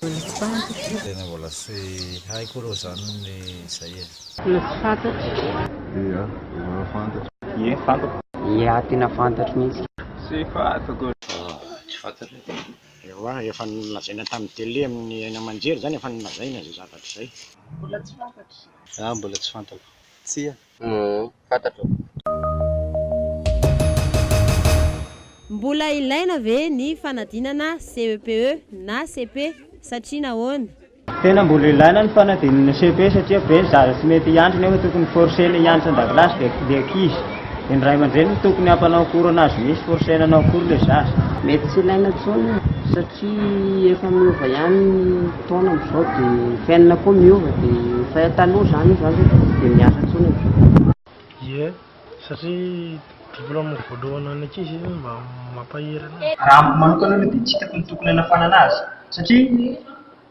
Tena mbola tsy haiko aloha izany ny izay e. Tena tsy fantatro. Ia, tena fantatro. Ie, fantako. Ia, tena fantatro mihitsy. Tsy fantako. Tsy fantatro e. Ewa, efa nolazaina tamin'ny tele amin'ny haino aman-jery izany, efa nolazaina izay zavatra izay. Mbola tsy fantatro. Za mbola tsy fantako. Tsia. Uhm. fantatro. Mbola ilaina ve ny fanadinana CEPE na cepe satria nahoana? Tena mbola ilaina ny fanadinana cepe satria be ny zaza tsy mety hianatra nefa tokony forcena hianatra andakilasy dia ny ankizy dia ny ray aman-dreny no tokony hampanao cours anazy mihitsy forcena hanao cours ilay zaza. Mety tsy ilaina intsony satria. Tsy efa miova ihany ny taona amin'izao dia ny fiainana koa miova dia efa taloha izany io izany dia tsy dia miasa intsony amin'izao. Ie, satria diplaoma voalohany ho an'ny ankizy io mba mampahery anazy. Raha amiko manokana aloha dia tsy hitako ny tokony hanafanana azy satria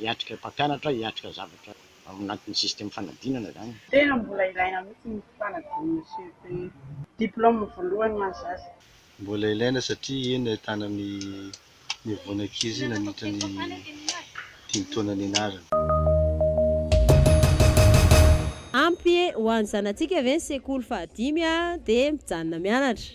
hiatrika mpampianatra, hiatrika zavatra ao anatin'ny système fanadinana izany. Tena mbola ilaina mihitsy ny fanadinana CEPE. Diplôme voalohany ho an'ny zaza. Mbola ilaina satria eny no ahitana ny nivoana ankizy nandritra ny dimy taona nianarana. Ampy ho an'ny zanatsika ve ny sekoly fahadimy dia mijanona mianatra?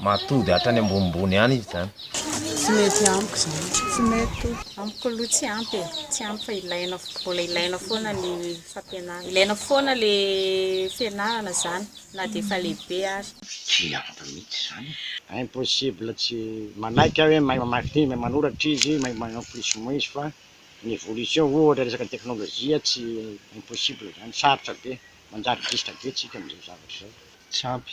Mahatody hatrany ambonimbony any izy zany. Tsy mety amiko zany. Tsy mety amiko aloha tsy ampy e, tsy ampy fa ilaina fo- mbola ilaina foana ny fampianarana, ilaina foana le fianarana zany na de efa lehibe ary. Tsy ampy mihitsy zany e. Impossible tsy manaiky aho hoe mahay mamaky teny, mahay manoratra izy, mahay ma- en plus moins izy fa ny évolution ohatra resaka teknolojia tsy impossible zany, sarotra be, manjary dista be tsika amzao zavatra zao. Tsy ampy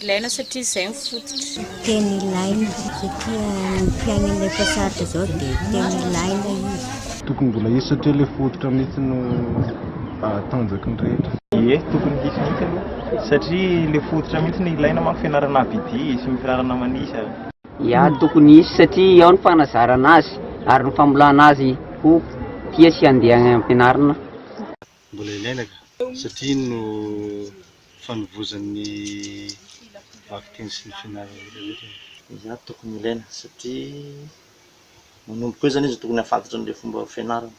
Ilaina satria izay no fototra. Tena ilaina satria ny fiainana efa sarotra izao dia tena ilaina izy. Tokony mbola hisy satria ilay fototra mihitsy no tanjaky ny rehetra. Ie, tokony hisy mihitsy aloha satria ilay fototra mihitsy no ilaina manko, fianarana ABD sy ny fianarana manisa. Ia, tokony hisy satria ao ny fanazarana azy ary ny famolana azy ho tia sy handeha any am-pianarana. mbola ilaina ka! satria iny no fanovozan'ny vakiteny sy ny fianarana rehetra rehetra e! Izany tokony ilaina satria manomboka eo zany izy tokony hahafantatra an'ilay fomba fianarana.